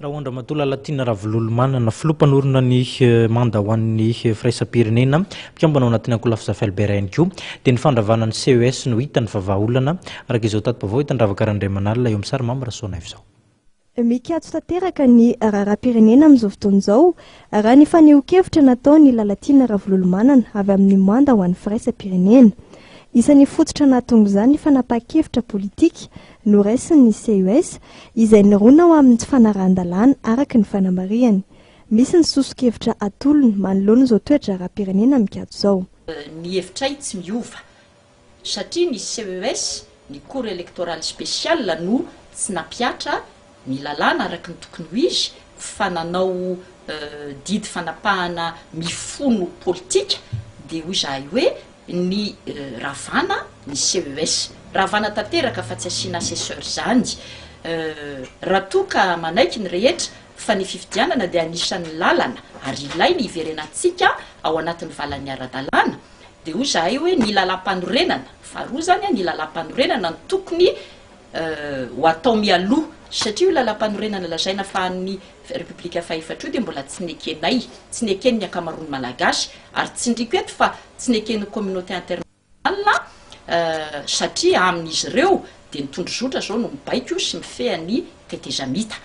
Rahoandramatoa Lalatiana Ravololomanana, Filoha mpanorina ny manda ho an'ny firaisam-pirenena, mpikambana ao anatin'ny ankolafy Zafy Albert ihany koa, dia ny fandravana ny CES no hitany fa vahaolana, araka izao tati-baovao hita an-dRavaka Randriamanala eo amin'ny sary Mamy Rasoanaivo izao. Mikatso tanteraka ny raharaham-pirenena amin'izao fotoana izao, raha ny fanehoan-kevitra nataon'i Lalatiana Ravololomanana avy amin'ny manda ho an'ny firaisam-pirenena. Isan'ny fototra nahatonga izany ny fanapahan-kevitra politika Noraisin' ny CES izay nirona ho amin' ny fanarahan-dalàna araka ny fanamarihany. Misy ny soso-kevitra atolony manoloana izao toe-draharaham-pirenena mikatso izao. Ny hevitray tsy miova satria ny CES, ny Cour Electorale Spéciale, no tsy nampihatra ny lalàna araka ny tokony ho izy fa nanao didy fanapahana mifono politika dia hoy izahay hoe ny ravana ny CES ravana tanteraka fa tsy asiana assesseur izany raha toa ka manaiky ny rehetra fa ny fifidianana dia anisan'ny lalana ary ilainy hiverenantsika ao anatin'ny valan'ny ara-dalàna dia hoy izahay hoe ny lalam-panorenana faharoa izany ny lalam-panorenana no tokony ho atao mialoha, satria io Lalampanorenana lazaina fa an'ny Repoblika fahefatra io dia mbola tsy nekenay, tsy neken'ny ankamaroan'ny Malagasy, ary tsindriko eto fa tsy neken'ny communauté internationale, satria amin'izy ireo dia ny tondrozotra izao no mibaiko sy mifeha ny tetezamita.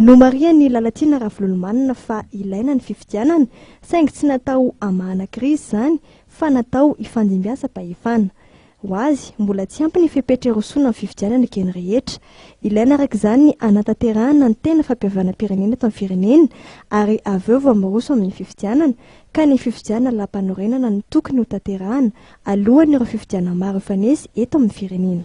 Nomarihan'i Lalatiana Ravololomanana fa ilaina ny fifidianana, saingy tsy natao hamahana krizy izany fa natao hifandimbiasam-pahefana. Ho azy, mbola tsy ampy ny fepetra irosoana amin'ny fifidianana ny geny rehetra. Ilaina araka izany ny hanatanterahana ny tena fampihavanam-pirenena eto amin'ny firenena ary avy eo vao miroso amin'ny fifidianana ka ny fifidianana lam-panorenana no tokony hotanterahana alohan'ireo fifidianana maro hifanesy eto amin'ny firenena.